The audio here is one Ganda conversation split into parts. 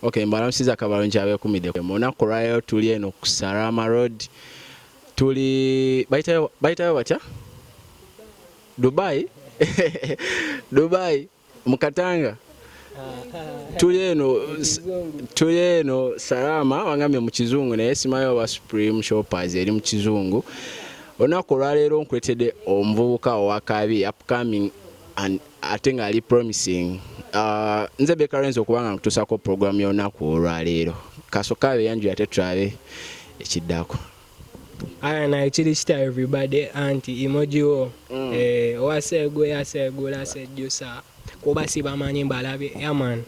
Okay, mbalamusiza kabalo nkyabekumide mu lunaku lwayo tuli eno ku Sarama Road tuli bayitayo bayitayo batya Dubai Dubai mu Katanga tuli eno tuli eno Sarama wangambye mu kizungu naye simayo oba Supreme Shoppers eri mu kizungu olunaku olwaleero nkuletedde omuvubuka owakabi upcoming and ate nga ali promising uh, nze bekarenzi okuba nga nkutusako program yonaku olwaleero kasoka beyanju ate tulabe ekiddako aya naye kiri kita everybody anti emojiwo mm. eh, owaseegula aseegula asejjusa kuba sibamanyi mbalabe yaman yeah,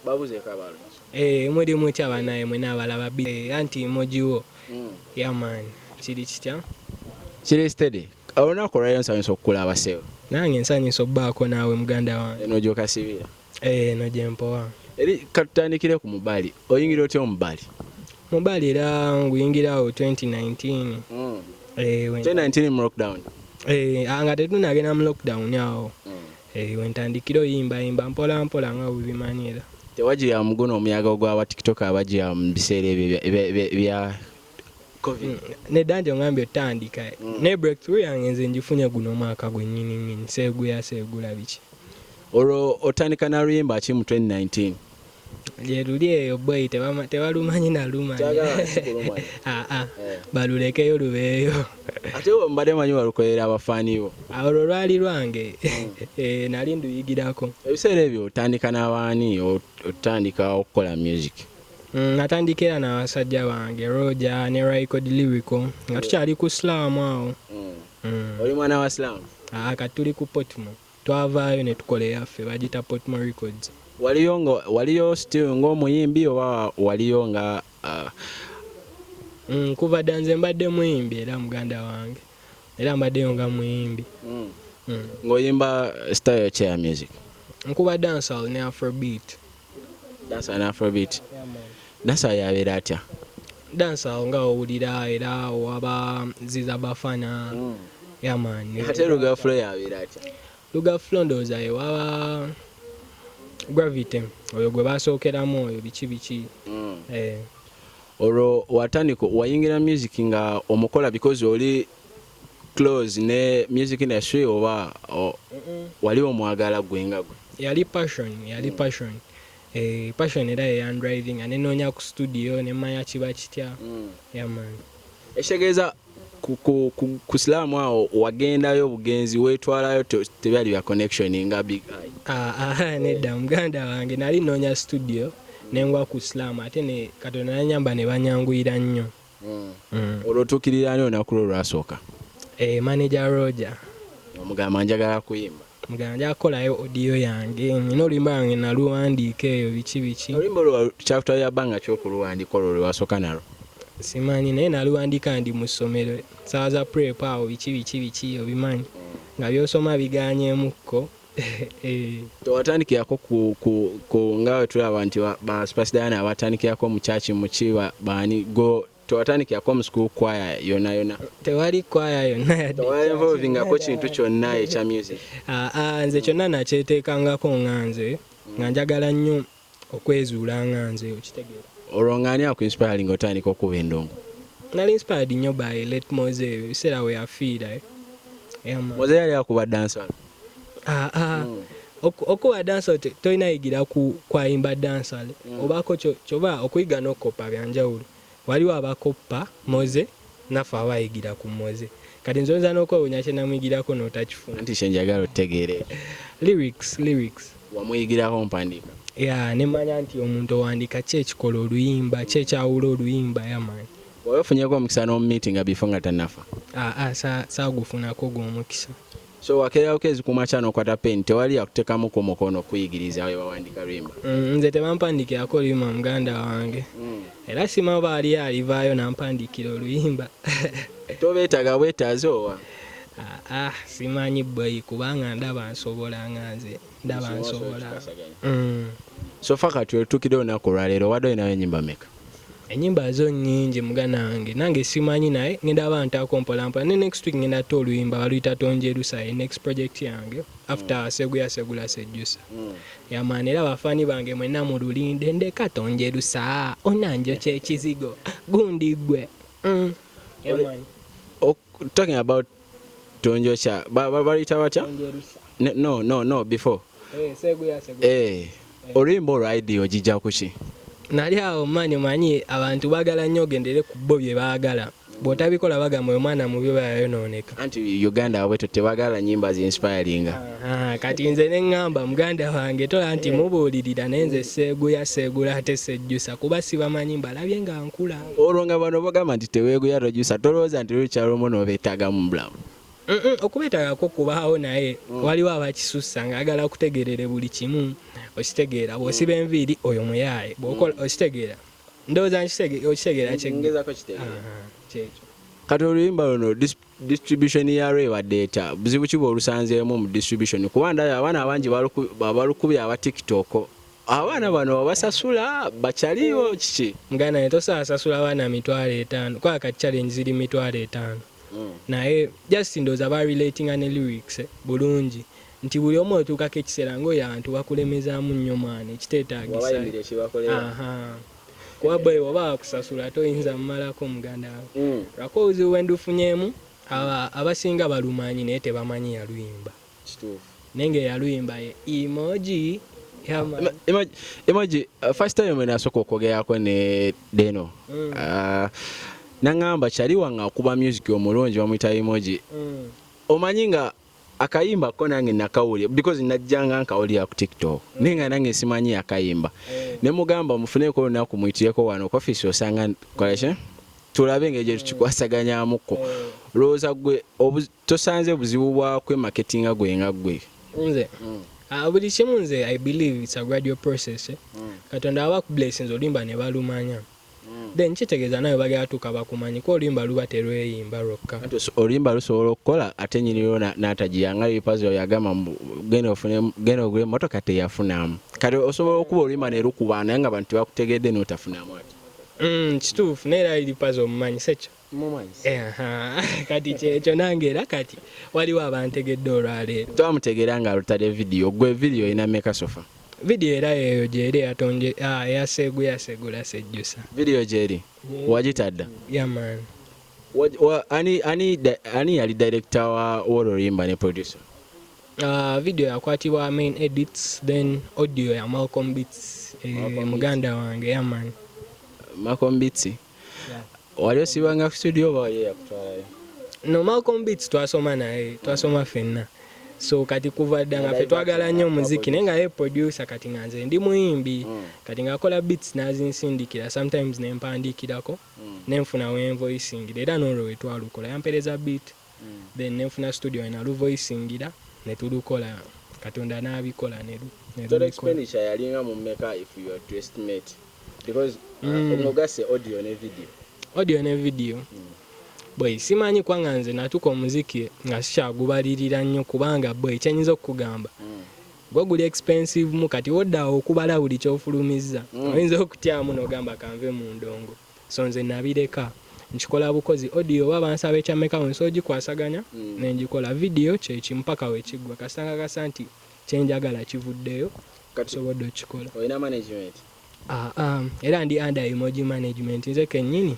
babuze kabalo eh muli mutya banaye mwe nabalaba bi eh, anti mojiwo mm. yeah man kiri kitya kiri steady olunaku olwaliro nsanyusa okukulaba sebo nange nsanyusa okubaako naawe muganda wange eno gyokasibira eh, eno gyempowa eri katutandikire ku mubali oyingira otya omubali mubali era nguyingirawo 2019 mm. eh, 2019 mu lockdown eh, nga tetunagenda mu lockdown awo mm. Eyo wentandikira oyimbayimba mpola mpola nga bwebimanyi era. Tewajiyamu guno omuyaga ogwa ba tiktok abajiya mu biseera ebyo bya covid. Mm, Nedda nti ongambye otandika mm. ne breakthrough yange nze njifunye guno omwaka gwennyini nnyini seeguya seegula biki. Olwo otandika na luyimba ki mu 2019? gyeruli eyo boyi tebalumanyi nalumanyi ah, ah. eh. balulekeyo lubeeyo ate mbadde manyi balukolera abafaani bo olwo lwali lwange hmm. eh, nali nduyigirako ebiseera ebyo otandika n'abaani otandika okukola music hmm, natandika era nabasajja bange roja ne ricod lyrico nga tukyali ku silaamu awo hmm. oli mwana wa silaamu ah, kati tuli ku potmo Twavaayo ne tukola eyaffe bagiyita Portmore Records. Waliyo nga waliyo still nga omuyimbi oba waliyo nga uh. Mm, kuva dda nze mbadde muyimbi era muganda wange era mbaddeyo nga muyimbi. Mm. Mm. Ng'oyimba style ki ya music? Nkuba dancehall ne afrobeat. Dansa na Afrobeat. Dansa yabeera atya? Dansa awo nga owulira era owaba ziza bafana. Mm. Yeah man. Ate Luga Flow yabeera atya? Luga Flow ndowooza ye waba Gravity oyo gwe basookeramu oyo biki biki. Mm. Eh. Olwo watandika wayingira music nga omukola because oli close ne music industry oba o, wali omwagala gwe nga gwe yali passion yali mm. passion eh, passion era yeyan driving ane nonya ku studio ne manya kiba kitya mm. yaman ekitegeeza ku, ku, ku, ku silamu awo wagendayo bugenzi wetwalayo tebyali bya connection nga big eye ah, ah, ah nedda yeah. muganda wange nali nonya studio nengwa ku silamu ate ne katonda nanyamba ne banyanguyira nnyo olwo otuukirira ani olunaku lwo olwasooka eh, manager roger omugamba njagala kuyimba mugamba njagala kukolayo audio yange nina oluyimba lwange naluwandiika eyo biki biki oluyimba olwo kyakutwalira bbanga ki okuluwandiika olwo lwe wasooka nalwo simanyi naye naluwandiika ndi mu ssomero saawa za prep awo biki biki biki obimanyi nga byosoma biganyemukko tewatandikirako ku nga wetulaba nti ba Spice Diana abatandikirako mu church mu kiba baani go tewatandikirako mu school choir yona yona tewali choir yonna yaddewainvolvingako kintu kyonna ekya music ah, ah, nze kyonna nakyeteekangako nga nze nga njagala nnyo okwezuula nga nze okitegeera. Olwo nga ani aku inspiring otandika okukuba endongo? Nali inspired nnyo by late Moze ebyo ebiseera weyafiira eh. Yeah man. Moze yali akuba dancehall? Ah ah. Mm. Okuba dancehall tolina yigira ku kwayimba dancehall mm. obako kyo kyoba okuyiga n'okukoppa byanjawulo. Waliwo abakoppa Moze naffe abayigira ku Moze kati nze oyinza nokwewunya kyenamuyigirako notakifuna. Anti kyenjagala otegeere ekyo. Lyrics lyrics. Wamuyigirako mpandiika? Yeah nemanya nti omuntu owandiika ki ekikola oluyimba ki ekyawula oluyimba yeah man. Wali ofunyeko omukisa nomu meetinga before nga tanafa? Aa sa sagufunako ogwo omukisa. So wakeerako ezikuuma kyana okwata pen tewali yakutekamu ku mukono kuyigiriza we bawandika luyimba. Mm, nze tebampandikirako oluyimba muganda wange mm. era sima baali alivaayo nampandikira oluyimba tobeetaga bwetaazi owa ah, ah, simanyi bweyi kubanga ndaba nsobola nga nze ndaba nsobola mm. sofa kati otukidewo naku olwaleero wadde olinayo enyimba meka enyimba zo nyingi mugana wange nange simanyi naye ngenda aba ntako mpolampola ne next week ngenda ta oluyimba baluyita tonjerusa ye next project yange after mm. seguya segula sejusa mm. yamaana era bafaani bange mwena mululinde ndeka tonjerusa onanjo kyekizigo gundi gwe mm. talking about tonjosha baluyita batya no no no before eh, eh oluyimba olwo idea ogijja kuki nali awo mani omanyi abantu bagala nnyo ogendere ku bo bye baagala bwotabikola bagamba oyo mwana mubi oba yayonooneka anti uganda wabwe tebagala nyimba zi inspiringa kati nze ne ŋŋamba muganda wange tola nti eh. mubuulirira naye nze seeguya seegula ate sejjusa kuba sibamanyi mbalabye nga nkula olwo nga bano bagamba nti teweeguya rojusa tolowooza nti lukyalomu nobeetaaga mu bulamu okubeetagako kubaawo naye mm. waliwo abakisussa ngaagala okutegerere buli kimu okitegeera bwosiba mm. enviiri oyo muyaaye bwokola mm. okitegeera ndowooza okitegeera kyekyo kati oluyimba luno distribution ya radiator buzibu ki bwolusanzeemu mu distribution kuba ndaba abaana abangi balukubye aba tiktok abaana bano babasasula bakyaliyo kiki nga naye tosasasula abaana mitwalo etaano kuba kati challenge ziri mitwalo etaano hmm. naye just ndowooza ba relatinga ne lyrics bulungi nti buli omu otuukako ekiseera ngaoyo abantu bakulemezaamu nnyo mwana ekiteetaagisa kuba bwe oba wakusasula toyinza mumalako muganda we mm. lwako obuzibu bwendufunyemu abasinga balumanyi naye tebamanyi yaluyimba naye nga eyaluyimba ye emoji emoji uh, first time mwe nasooka okwogerako ne deno mm. uh, nangamba kyali wange akuba music omulungi bamuyita emoji mm. omanyi nga akayimba ko nange nakawulira because najjanga nkawulira ku tiktok mm. naye nga nange simanyi akayimba eh. ne mugamba mufuneko olunaku muyitireko wano ku ofisi osanga kolaki tulabe engeri gye tukikwasaganyamuko eh. lowooza gwe tosanze buzibu bwa kwemaketinga gwe nga gwe nze mm. ah, buli kimu nze i believe its a gradual process eh. mm. katonda aba kublessings olimba ne balumanya mm. then kitegeeza nawe bali atuuka bakumanyi ko oluyimba luba terweyimba lwokka oluyimba lusobola okukola ate nyiniro natagiya nga yepazo yagamba genda ogula emotoka teyafunamu kati osobola okuba oluyimba nerukuba naye nga bantu tebakutegedde notafunamu ati mm, kituufu naye era iripazo omumanyi sekyo kati kyekyo nange era kati waliwo abantegedde olwaleero twamutegeera nga alutadde vidiyo gwe vidiyo olina meka sofa vidiyo era yeeyo gyeri eyatonje ah, eyaseegu yasegula sejjusa vidiyo gyeri wagitadda yaman ani yali direkita woluyimba ne producer Uh, video yakwatibwa main edits then audio ya malcom bits eh, muganda wange yaman malcom bits wali osibanga ku studio oba wali yakutwalayo no malcom beats twasoma naye twasoma fenna so kati kuva dda nga fe twagala nnyo omuziki naye nga ye producer kati nga nze ndi muyimbi mm. kati ngaakola beats nazinsindikira sometimes nempandiikirako mm. nenfuna wenvoisingira era nolwo wetwalukola yampereza beat then ne nfuna studio we naluvoisingira ne tulukola katonda n'abikola ne lu- ne total lubikola. expenditure yalinga mu meka if you are to estimate because uh, Mm. omugasse audio ne video audio ne video boy simanyi kwanga nze natuka omuziki nga sikyagubalirira nnyo kubanga boy kyenyinza okukugamba Mm. gwe guli expensive mu kati woddawo okubala buli kyofulumizza Mm. oyinza okutyamu nogamba kanve mu ndongo So nze nabireka nkikola bukozi audio oba bansaba ekya meka wensi ogikwasaganya nengikola video kyekimu paka wekiggwa kasita nkakasa nti kyenjagala kivuddeyo nsobodde okikola. Olina management? Aa era ndi under emoji management nze kenyini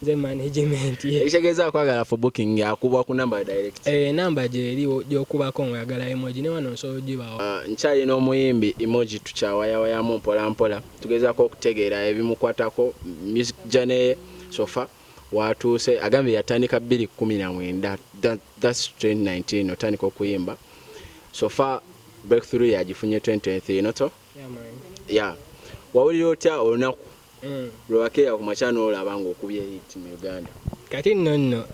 nze management ye. Ekitegeeza akwagala for booking akuba ku number direct? Eeh number gyeri gyokubako nga oyagala emoji newano nsobola ogibawa. Nkyalina omuyimbi emoji tukyawayawayamu mpolampola. tugezaako okutegeera ebimukwatako music journey ye sofa watuuse agambye yatandika 219 that's 2019 otandika okuyimba sofa breakthrough yagifunye 2023 noto yeah, yeah. wawulira otya olunaku mm. lwewakeera ku makya noolaba ngaokubye hiiti mu uganda kati nno nno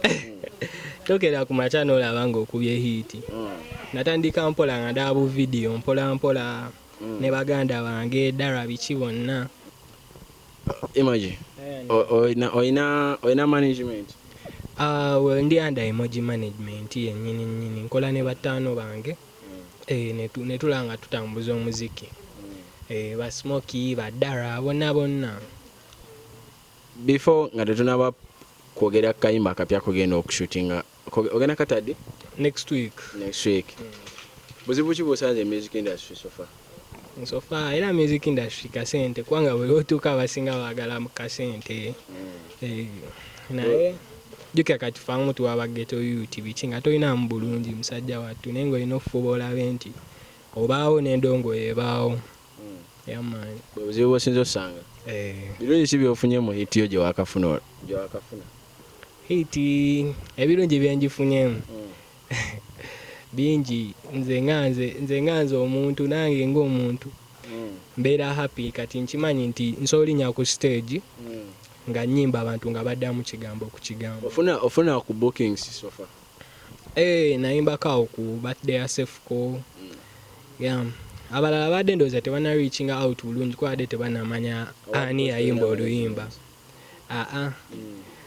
tokera ku makya noolaba ngaokubye hiiti mm. natandika mpola nga ndaba bu vidiyo mpola mpola mm. ne baganda bange dara biki bonna imagine eh, oyina oyina management ah, well ndi under emoji management yenyini nyini nkola ne bataano bange mm. eh, ne tulanga tutambuza omuziki mm. eh, ba smoky ba dara bonna bonna before nga tetunaba kwogera kayimba akapya kugenda okushootinga Ogenda katadi? Next week. Next week. Mm. Buzibu ki bwosanze music industry so far? So far era music industry kasente kwanga buli otuuka abasinga baagala mu kasente. Mm. Eh, naye jukira kati fa omuntu waba ghetto youth biki nga tolinamu bulungi musajja wattu naye nga olina okufuba olabe nti obaawo n'endongo ebaawo. yamaani bwe buzibu bwosinza osanga eh. birungi ki byofunye mu hiti yo gyewakafuna gyewakafuna hiti ebirungi byenjifunyemu mm. bingi nze nga nze nze nga nze omuntu nange ngaomuntu mm. mbeera happy kati nkimanyi nti nsobola olinya ku stage mm. nga nyimba abantu nga baddamu kigambo ku kigambo ofuna ofuna ku bookings sofa Eh, nayimbako awo ku birthday ya Sefuko. Yeah. Abalala baadde ndowooza tebana reaching out bulungi kuba baadde tebanamanya ani yayimba oluyimba. Aa,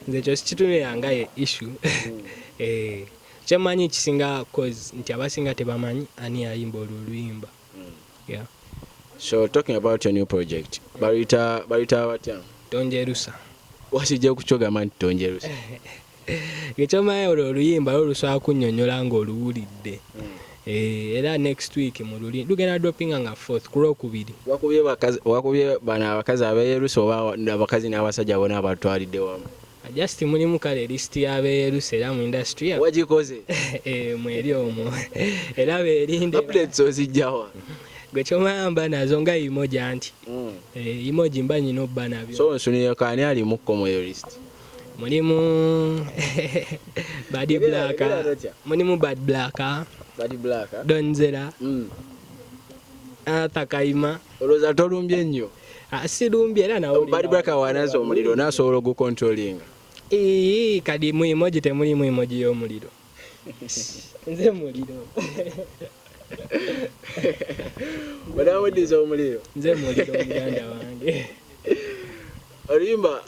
nze ekyo sikitunira nga ye issue. Eh, kye mmanyi kisinga cause nti abasinga tebamanyi ani yayimba olwo oluyimba. Yeah. So talking about your new project, baluyita baluyita batya? Tonjerusa. Wakijja ku kyo gamba nti tonjerusa. ngekyomanyi olwo oluyimba lwo lusobola kunyonyola nga oluwulidde hmm. eh, era next week mululi lugenda dropinga nga fourth ku lwokubiri wakubye bano abakazi abeyerusa oba abakazi n'abasajja bona abatwalidde wamu just mulimu kale list yabeyerusa era mu industry wagikoze eh, mweri omwo era berinde updates ozijjawa gwe kyomayamba nazo nga imoja nti hmm. eh, imoji mba nyina obba nabyo so nsunire kaani ali mukko mweyo list Mulimu Bad Black. Mulimu Bad Black. Bad Black. Don Zera. Mm. Arthur Kaima. Oloza tolumbye nnyo. Ah, silumbye era nawe. Bad Black wanazo omuliro nasobola ogukontrolinga. Ii kadi mu emoji temulimu emoji y'omuliro. nze muliro onaweddiza omuliro nze muliro muganda wange oluyimba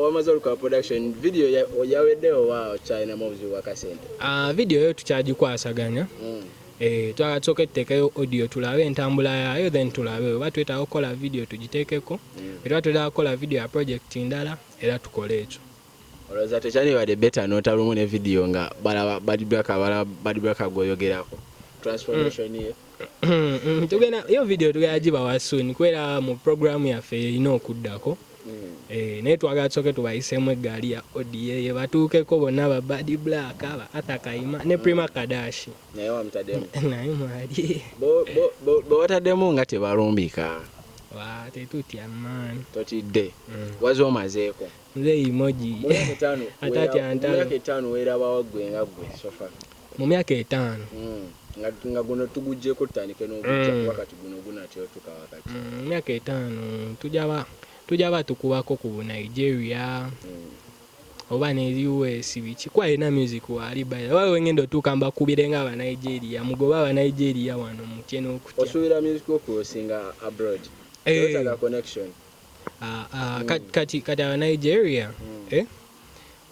wamaze oluka production video yaweddewo wa okyalinamu obuzibu bwakasente ah, video yo tukyagikwasaganya mm. eh, twala tusoka etuteekeyo audio tulabe entambula yayo then tulabe oba twetaaga okukola video tugiteekeko mm. era twetaaga kukola video ya project ndala era tukole ekyo Oloza tekyali bade better nota lumu ne video nga balaba bad black abala bad black agoyogerako transformation ye mm. tugenda yo video tugenda gibawa soon kwera mu program yaffe erina okuddako mm. eh, naye twagala tusoke tubayisemu eggaali ya oda ye batuukeko bonna ba bad black ba arthur kayima ne mm. prima kadashi naye wamutademu naye mwali bwewataddemu nga tebalumbika tetutya man totidde wazi omazeeko Muzeeyi emoji ate atya ntalo. Mu myaka etaano weerabawa ggwe nga ggwe sofa? Mu myaka etaano? Hmm. nga guno tugujjeko tutandike n'ogujja hmm. kuba kati guno gunatyotuka wakati. Hmm, mu myaka etaano tujja ba tukubako ku Nigeria oba ne US biki kuba alina music waali baya oba wengenda otuuka mbakubire nga Abanigeria mugoba Abanigeria wano mutye n'okutya. Osuubira music okusinga abroad? Hey. Eh. Connection. Ah, ah, mm. kati kati kati aba Nigeria mm. eh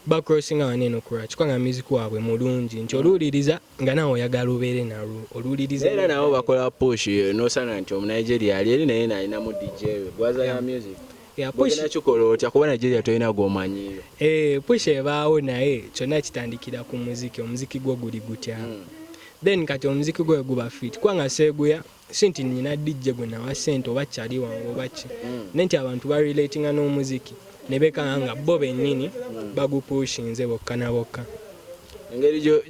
ba crossing awa neno kura chikwa nga music wabwe mulungi nti oluliriza nga nawo yagala ubere na ru oluliriza era nawo bakola push eh, no sana nti omu Nigeria ali eri naye naye namu DJ gwaza ya music ya push na chukolo otya kuba Nigeria toyina gomanyi eh push ebaawo naye kyona kitandikira ku muziki omuziki gwo guli gutya mm. then kati omuziki gwo guba fit kwa nga seguya si nti nina dijje gwe nawa sente oba kyali wange oba ki mm. naye nti abantu barelatinga n'omuziki ne bekanga nga bo bennyini mm. bagupushinze bokka na bokka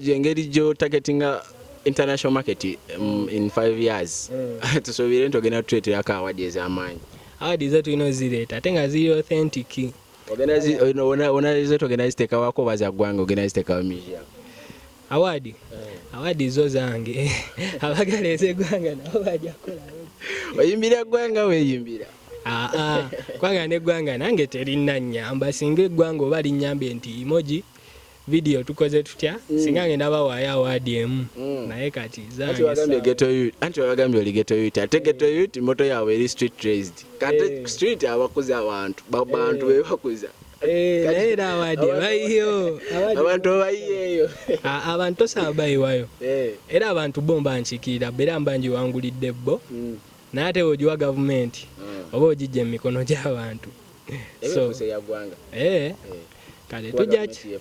engeri gyotaketinga international market um, in five years mm. tusuubire nti ogenda tutuleterako awadi ez'amaanyi awadi ze tulina ozireeta ate nga ziri authentic ogenda zitogenda ziteekawako oba zaggwanga ogenda ziteekawo museum Awadi awadi zo zange abagala ez'eggwanga nabo bajja kukola. Oyimbira eggwanga weeyimbira? Aa ah, ah. kwanga n'eggwanga nange terinna nnyamba singa eggwanga oba linnyambye nti imoji vidiyo tukoze tutya mm. singa ngenda bawaayo awaadi emu mm. naye kati zange anti wabagambye oli geto yut ate geto yut moto yaabwe eri street raised kate eh. street abakuza abantu bantu eh. bebakuza Eh, naye era abadde bayiyo abantu bayiyeeyo ah, abantu tosaba bayiwayo eh. era abantu bo mba nkikiira beera mba ngiwangulidde bo mm. naye ate weogiwa gavumenti mm. oba ogijja mu mikono gy'abantu eh. kale tujaki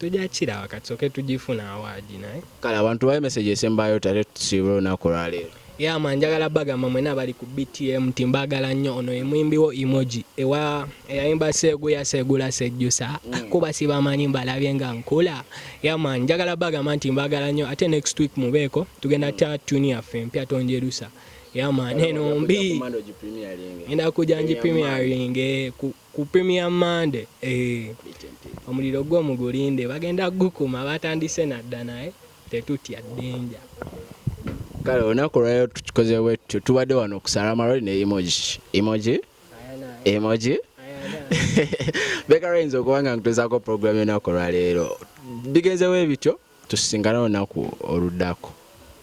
Tujja kiraba kati soke tugifuna awaadi naye. Kale abantu bawe message esembayo tate tusiibule olunaku olwaleero. Yeah man njagala bagamba mwena abali ku BTM nti mbagala nnyo ono ye muyimbi wo emoji ewa eyayimba seeguya seegula sejjusa mm. kuba sibamanyi mbalabye nga nkula yeah man njagala bagamba nti mbagala nnyo ate next week mubeeko tugenda ta tune yaffe empya tonjerusa yeah man eno mbi enda kuja nji premiering eh, ku Ku Premier Monday eeh omuliro gwo mugulinde bagenda kugukuma batandise nadda naye tetutya danger. Kale olunaku olwaleero tukikoze bwetutyo tubadde wano ku Salama Road ne Emoji Emoji Emoji beka lwayinza okuba nga nkutezaako pulogulaamu y'olunaku olwaleero bigenze bwe bityo tusisinkane olunaku oluddako